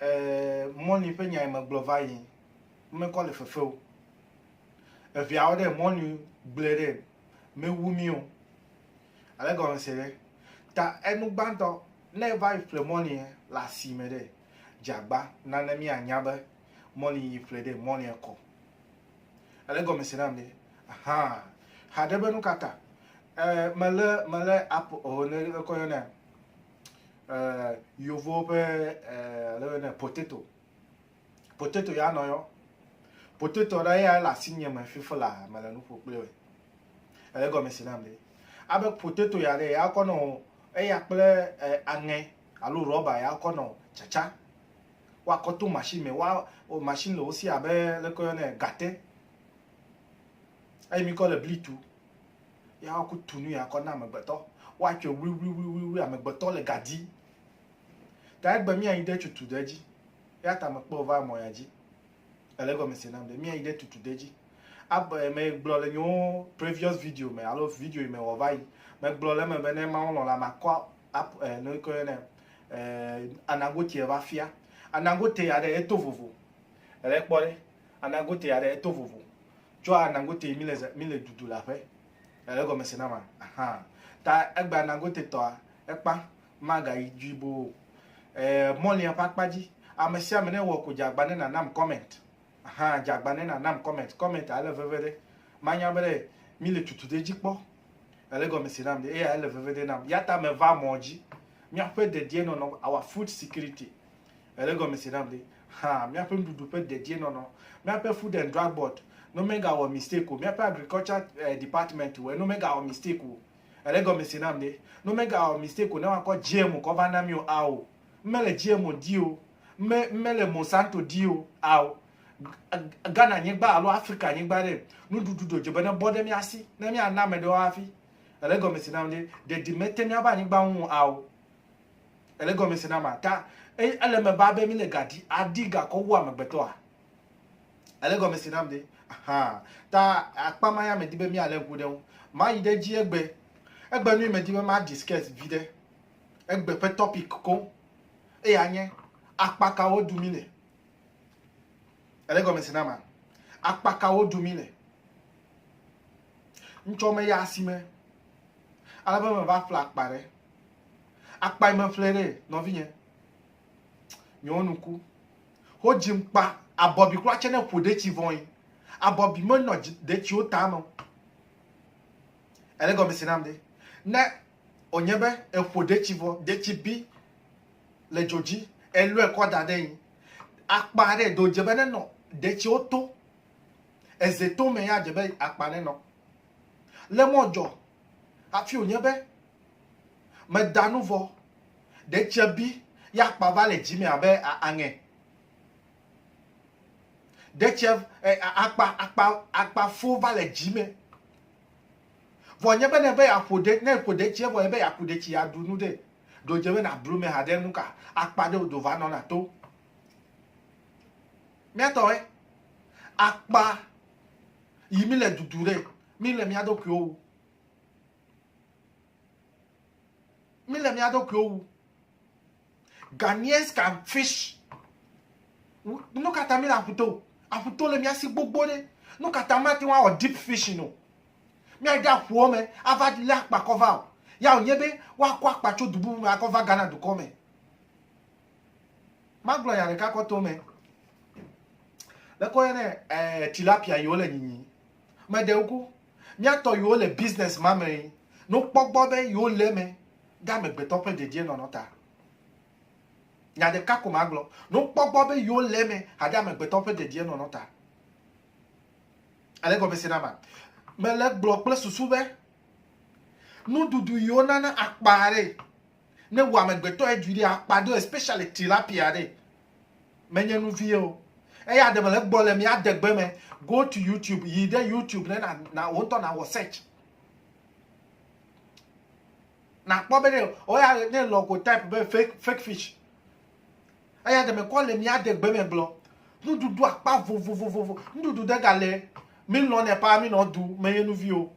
Eh, mɔni ƒe nyae megblɔ va yi. Mekɔ le fefe o. Eviawo ɖe mɔni gblẽ ɖe mewu mi o. Ale gɔme se ɖe. Ta enu gbãtɔ ne eva yi ƒle mɔni le asime ɖe dzagba nane mianya be mɔni yi ƒle ɖe mɔni kɔ. Ele gɔme se nam ɖe. Aha. Haɖe be nu ka ta? Eh, mele mele app o ne kɔ yɔnɛ. eh, yovowo ƒe eh, le bene potato potato ya nɔ yɔ potato ɖe ya le asi nye me fifi la me le nuƒo kple wɛ ele gɔme si nam ɖe abe potato ya ɖe ya kɔ nɔ eya kple eh, aŋɛ alo rɔba ya kɔ nɔ tsatsa woakɔ to machine me wa o machine le wo si abe leke yɔ ne gate eye mi kɔ le bli tu Ya woku tu nu ya kɔ na amegbetɔ. Woatsɔe wliwliwliwli amegbetɔ le ga di. Ta egbe míayi ɖe tutu ɖe dzi. Ya ta mekpɔ va mɔ ya dzi. Ele gɔme se nam ɖe. Míayi ɖe tutu ɖe dzi. Abe megblɔ le nyewo previous video me alo video yi me wɔ va yi. Megblɔ le eme be ne Mawu lɔ̃ la makɔ ap eh, nu ke ne eh, anagote va fia. Anagote ya ɖe eto vovo. Ele kpɔ ɖe. Anagote ya ɖe eto vovo. Tsɔa Nangote mi le zã mi le dudu le aƒe. Ele gɔme se na ma. Aha. Ta egba Nangote tɔa ekpa maga yi dui bo. Eh, mɔlia ƒe akpa dzi. Ame sia ame ne wɔ ko dza gba ne na nam comment. Aha, dza gba ne na nam comment. Comment a ele veve ɖe. Ma nya be ɖe mi le tutu ɖe dzi kpɔ. Ele gɔme se nam ɖe. Eya ele veve ɖe nam. Yata me va mɔ dzi. Mia ƒe dedie nɔnɔ, our food security. Èlé gɔmese nam ɖe. Hã, míaƒe nuɖuɖu ƒe dedienɔnɔ, míaƒe food and drug board, ne womegawɔ mistake o, míaƒe agriculture department wɔe, ne womegawɔ mistake o. Èlé gɔmese nam ɖe. Ne womegawɔ mistake o, ne woakɔ GMO kɔ va na mí o, ao. Mímele GMO di o. Mí, mímele Monsanto di o, ao. Ghana-nyigba alo Afrika-nyigba ɖe, nuɖuɖu ɖe wòdze be nebɔ ɖe mía si, ne míana ame ɖewo hafi. Èlé gɔmese nam ɖe. Ɖeɖi mete míaƒe anyigba ŋu o, ao. Ele gɔmese na ma ta eye ele me ba be mi le ga di adi ga kɔ wu amegbetɔ a? Ele gɔmese nam de aha ta akpa ma ya me di be mi ale ŋku ɖe ŋu. Ma yi ɖe dzi egbe egbe nui me di be ma discuss vi ɖe egbe ƒe topic ko eye anye akpa ka wo du mi le. Ele gɔmese na ma akpa ka wo du mi le. Ŋtsɔ me ya asi me. Alebe me va fla akpa ɖe. Akpae me ƒle ɖe nɔvinye. Nyewo nuku. Ho dzim kpa abɔbi kura tse ne ƒo detsi vɔin. Abɔbi me nɔ detsiwo ta me. Ele gɔme si nam de. Ne onye be eƒo detsi vɔ, detsi bi le dzo dzi, elɔe kɔ da ɖe yin. Akpa ɖe do dze be ne nɔ detsiwo to. Eze to me ya dze be akpa ne nɔ. Le mɔ dzɔ Hafi wònye be meda nu vɔ, ɖe tse bi ya kpa va le dzi me abe aŋe. Ɖe tse akpa akpa akpa fo va le dzi me. Vɔ nye be ne be yeaƒo ɖe ne ƒo ɖe tse vɔ nye be yeaku ɖe tsi yeaɖu nu ɖe. Ɖo dze be nablu me haɖe nu ka akpa ɖe wodo va nɔna to. Míatɔ ɛ akpa yi mi le dudu ɖe Mí le mía ɖokuiwo wu. Mí le mía ɖokuiwo wu. Ghanaians can fish. Nu ka ta mí le aƒuto? Aƒuto le mía si gbogbo ɖe. Nu ka ta mate ŋu awɔ deep fishing o? Míade aƒuwo me ava lé akpa kɔ va o. Ya wònye be woakɔ akpa tso du bubu me akɔ va Ghana dukɔ me. Magblɔ nya ɖeka kɔ to eme. Ɖeko woyɔnɛ eh, tilapia yi wole nyinyi. Meɖe ŋku, mía tɔ yiwo le business ma me no kpɔ gbɔ be yewo le eme ɖe amegbetɔ ƒe dedienɔnɔ ta. Nya ɖeka ko magblɔ, no kpɔ gbɔ be yewo le eme haɖe amegbetɔ ƒe dedienɔnɔ ta. Èle gɔme se na ma? Mele gblɔ kple susu be nuɖuɖu yiwo nana akpa ɖe Ne wò amegbetɔ edui ɖe akpa do especially tilapia ɖe menye nu vie o eya ɖe mele gbɔ le mi adegbe me go to youtube yi ɖe youtube ne na na wo ŋutɔ na wɔ search na kpɔ be ne oya ne lɔ ko type be fake fake fish eya ɖe me kɔ le mi adegbe me gblɔ nuɖuɖu akpa vovovovovo nuɖuɖu de ga le mi lɔ ne pa mi nɔ du menye nu vie o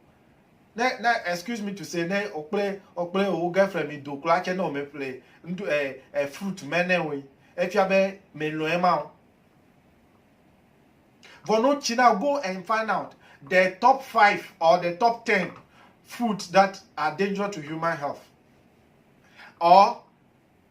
Ne ne excuse me to say ne okple okple wo girlfriend mi do kura tse ne ome ƒle ŋɖu ɛ eh, ɛ eh, fruit mɛ ne woe efia be me lɔe ma o. Vɔ no tsi na go and find out the top five or the top ten fruits that are dangerous to human health or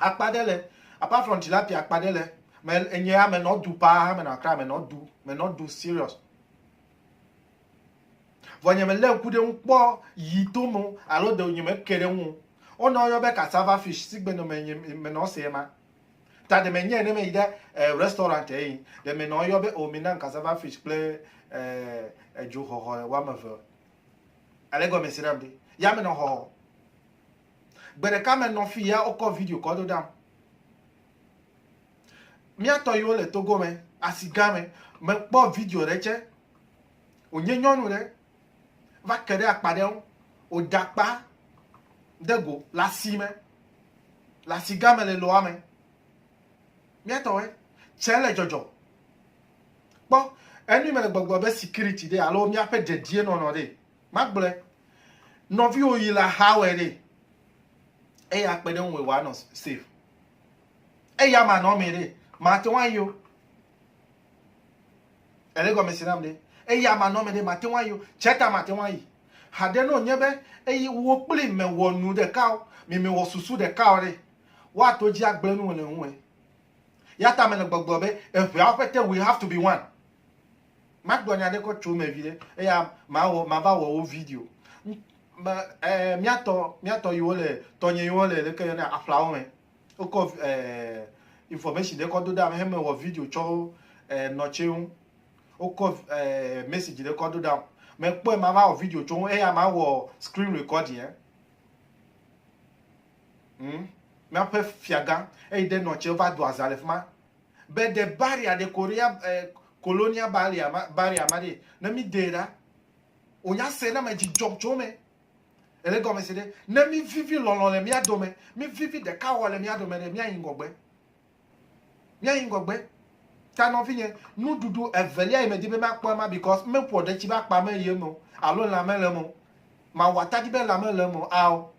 Akpa ɖe le, apart from tilapia akpa ɖe le me enye ame nɔ du paa ame nɔ akra ame nɔ du me nɔ du serious. Vɔ nye me le ŋku ɖe ŋu kpɔ yi to me alo de nye me ke ɖe ŋu. Wo nɔ yɔ be cassava fish si gbe nɔ me nye me nɔ se ma. Ta de me nye ne me yi ɖe eh, restaurant e yi de me nɔ yɔ be o oh, mi nan cassava fish kple eh, edzo xɔxɔ wa me ve. Ale gɔme si ɖam de. Ya me nɔ xɔxɔ. Gbe ɖeka me nɔ fi ya wokɔ video kɔ do ɖam. Mía tɔ yiwo le Togo me, asi gã me, mekpɔ video ɖe tsɛ. Wònye nyɔnu ɖe va ke ɖe akpa ɖe ŋu. Wòda akpa de go le asi me, le asi gã me le loa me. Mía tɔ wɛ tsɛ le dzɔdzɔ. Kpɔ, enu yi mele gbɔgblɔ be sikiriti ɖe alo míaƒe dedienɔnɔ ɖe. Magblɔe. Nɔviwo yi la hawɔe ɖe. Eye akpe ɖe ŋu wòanɔ safe. Eya manɔ me ɖe. Mate ŋu ayi o. Ele gɔme si nam ɖe. Eya manɔ me ɖe. Mate ŋu ayi o. Tseta mate ŋu ayi. Haɖe ne wònye be eye wò kpli mewɔ nu ɖeka o, mi mewɔ susu ɖeka o ɖe, woato dzi agblẽ nu le ŋuwòe. Yata mele gbɔgblɔ be eŋeawo ƒete we have to be one. Magblɔ nya ɖe kɔ tso eme viɖe eya mawɔ mava wɔ wo video. Me ɛ miatɔ miatɔ yiwo le tɔnye yiwo le ɖeke yɔ ne aƒlawo me. Wokɔ ɛ information ɖe kɔ do ɖa me heme wɔ video tsɔ ɛ nɔtse ŋu. Wokɔ ɛ message ɖe kɔ do ɖa me kpɔe mava wɔ video tsɔ ŋu eya mawɔ screen recording ɛ. Hmm. Miaƒe fiagã eyi ɖe nɔtse va do aza le fima. be de barrier de korea eh, colonia barrier ma barrier ma de ne mi de ɖa o nya se ne me dzi dzɔ tso me ele gɔme se de ne mi vivi lɔlɔ le mia dome mi vivi de ka wɔ le mia dome de mia yin gɔgbe mia yin gɔgbe ta nɔ fi nye nu dudu evelia yi me di be ma kpɔ ma because me pɔ de tsi ba kpa me ye mo alo la me le mo ma wata di be la me le mo ao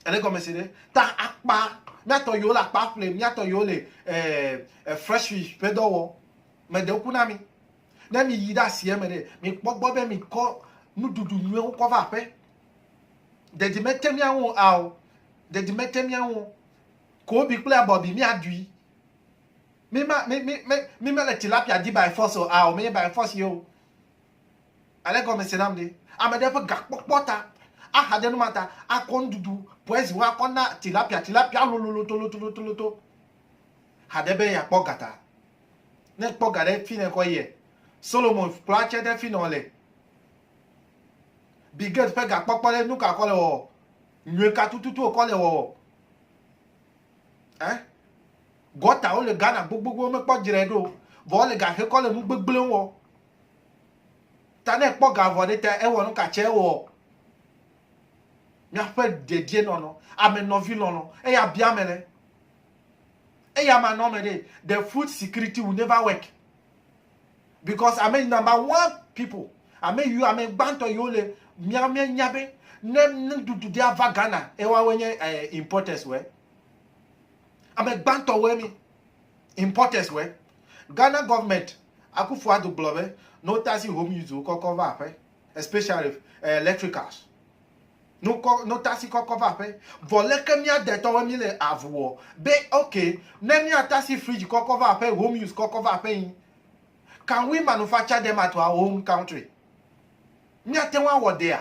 Ele gɔme se ɖe? Ta akpa, míatɔ yewo le akpa ƒle, míatɔ yewo le eh, eh, fresh fish ƒe dɔ wɔ. Mede ku na mi. Ne mi yi ɖe asie me ɖe, mi kpɔ gbɔ be mi kɔ nuɖuɖu nyuiwo kɔ va aƒe. Dedi mete miawo ao. Dedi mete miawo. Kobi kple abɔbi miaɖui. Mi ma mi mi mi mi mele tilapia di by force o ao. Mi by force ye o. Ele gɔme se nam ɖe. Ame ɖe ƒe gakpɔkpɔ ta, axa ɖe nu ma ta, akɔ nuɖuɖu poison wo akɔ na tilapia, tilapia lololotolotoloto. Ha ɖe be yeakpɔ ga ta. Ne ekpɔ ga ɖe fi ne kɔ yie. Solomon kplɔ atse ɖe fi nɔ le. Bill Gates ƒe gakpɔkpɔ ɖe nuka kɔ le wɔ? Nyuie ka tututu wokɔ le wɔ? Eh? Gɔtawo le Ghana gbogbogbogbo mekpɔ dzre ɖo. Vɔ wole ga xe kɔ le nu gbegblẽ wɔ. Ta ne ekpɔ ga vɔ̃ ɖe ta ewɔ nu ka tsɛ ɔ? Míaƒe dedienɔnɔ, ame nɔvi lɔlɔ, eya bia ame ɖe. Eya ma nɔme ɖe. The food security will never work because ame number one people, ame yiwo ame gbãtɔ yiwo le mía mía nya be ne nuɖuɖu ɖe ava Ghana ewoawoe nye eh, importers wɔe. Ame gbãtɔ wɔe mi. Importers were. Ghana government, Akuffo Addo gblɔ be ne wota si home use wokɔ kɔ va aƒe, especially eh, electricals, ne wokɔ ne wota si kɔ kɔ va aƒe, vɔ leke mía detɔwoe míle avu wɔ be ok, ne míata si fridge kɔ kɔ va aƒe, home use kɔ kɔ va aƒe yi, can we manufacture them at our own country? Míate ŋu awɔ dea?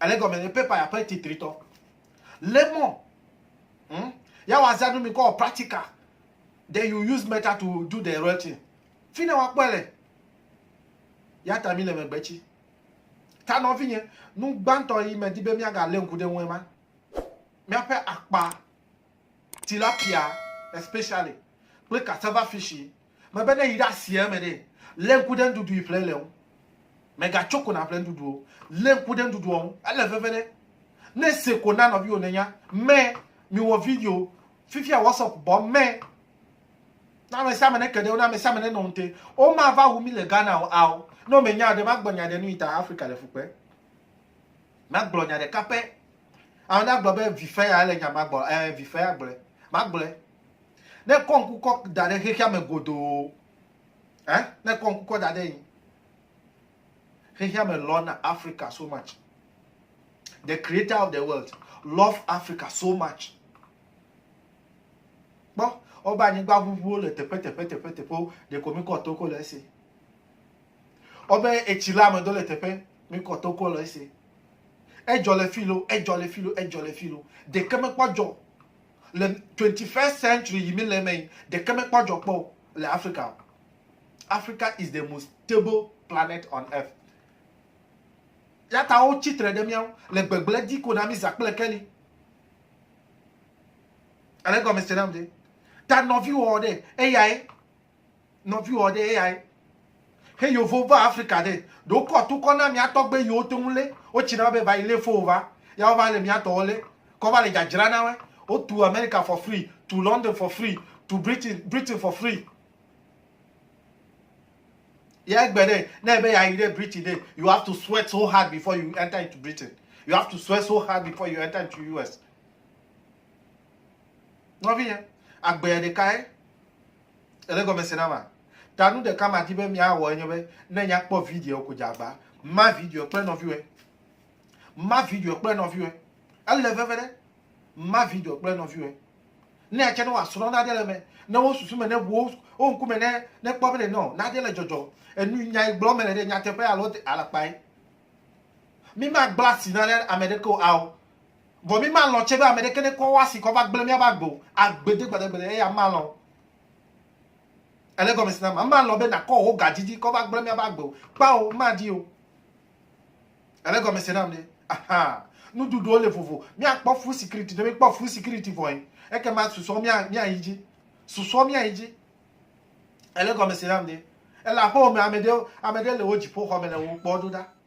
Ale gɔme nye paper ya ƒe titritɔ. Lemɔ. Hmm? Ya wa zanu mi kɔ practical. Then you use meta to do the real thing. Fi ne wa kpɔe le. Ya ta mi le megbe tsi. Ta nɔvi nye, nu gbãtɔ yi me di be mia ga le ŋku ɖe ŋue ma. Mia ƒe akpa, tilapia especially, kple cassava fish yi. Mebe ne yi ɖe asia me ɖe, lé ŋku ɖe nuɖuɖu yi ƒle le ŋu. Mègatso ko nàƒle nuɖuɖu o. Lé ŋku ɖe nuɖuɖua ŋu. Ele veve ɖe. Ne se ko na nɔviwo nènya. Mɛ, miwɔ video. Fifia WhatsApp bɔ mɛ. Ne ame sia ame neke ɖe wo, ne ame sia ame nenɔ ŋute. Womava wu mí le Ghana o, ao. Ne womenya ɖe, magblɔ nya ɖe nu yi ta Afrika le fukpe. Magblɔ nya ɖeka pɛ. Ame ɖe agblɔ be vi fɛ ya ele nya magblɔ. Ɛ, vi fɛ ya gblɔe. Magblɔe. Ne kɔ ŋku kɔ da ɖe xexea me godoo, ɛ, ne kɔ ŋku kɔ da ɖe yin, xexea me lɔna Africa so much. The creator of the world love Africa so much. Kpɔ, wobe anyigba ʋuʋuwo le teƒe teƒe teƒe teƒewo, ɖeko mi kɔ toko le esi. Ɔbe etsi la me do le teƒe mi kɔ toko le ese. Edzɔ le fi lo, edzɔ le fi lo, edzɔ le fi lo. Ɖeke me kpɔ dzɔ le 21st century yi mi le me yi ɖeke me kpɔ dzɔ kpɔ le Africa o. Africa is the most stable planet on earth. Yata wo tsitre ɖe miawo le gbegble di ko na mi za kple keli. Ele gɔme se nam de. Ta nɔvi wɔ ɖe eyae. Nɔviwɔ ɖe eyae. He yovo va Afrika ɖe, ɖe wokɔ tukɔ na mia tɔgbe yiwo te ŋu lé wotsi na be va yi lé fo wo va. Ya wova le mia tɔwo lé. Kɔ va le dzadzra na woe. Wo tu Amerika for free, tu London for free, tu Britain, Britain for free. Ya egbe ɖe, ne ebe ya yi ɖe Britain ɖe, you have to sweat so hard before you enter into Britain. You have to sweat so hard before you enter into US. Nɔvi ya, agbea ɖeka ye. Ele gɔme se na ma? Ta nu ɖeka madi be miawɔ enye be ne nya kpɔ video ko dzagba, ma video kple nɔviwɔe. Ma video kple nɔviwɔe. Ele veve ɖe. Ma video kple nɔviwɔe. Ne atse ne wòasrɔ̃ nane le me, ne wo susu me ne wo wo ŋkume ne ne kpɔ be ɖe nɔ nane le dzɔdzɔ. Enu nya yi gblɔ me le ɖe nyateƒe alo alakpae. Mi ma gblɔ asi nane ame ɖeke o ao. Vɔ mí malɔ̃ tsɛ be ame ɖeke nekɔ eƒe asi kɔ va gblẽ míaƒe agbe o, agbede gbadagbede, eya malɔ̃ o. Èlé gɔmesi na ma? Malɔ̃ be nàkɔ wò ga didi kɔ va gblẽ míaƒe agbe o. Kpao, madi o. Èlé gɔmesi nam ɖe? Aha! Nuɖuɖuwo le vovo. Míakpɔ fuu sikiriti. Ne míekpɔ fuu sikiriti vɔe, ekema susɔewo míayi dzi. Susɔewo míayi dzi. Èlé gɔmesi nam ɖe? Ele aƒewò me, ame ɖe, ame ɖe le wò dziƒoxɔ me le wò kpɔm ɖo ɖa.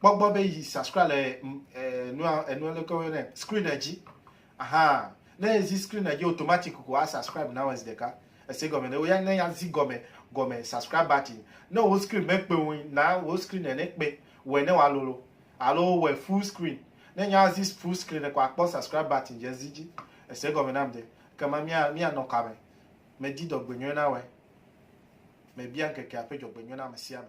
kpɔ gbɔ be yi subscribe le enua enua leke wo ne screen dzi aha ne ezi screen dzi automatic ko a subscribe na wes ɖeka ese gɔme ne wo ya ne ya zi gɔme gɔme subscribe button ne wo screen me kpe wo na wo screen ne kpe wɔ ne wa lolo alo wɔ full screen ne nya zi full screen ko akpɔ subscribe button dze zi dzi ese gɔme nam de kema mia mia nɔ kame medi dɔgbenyuie na wes mebia nkeke aƒe dɔgbenyuie na ame sia ame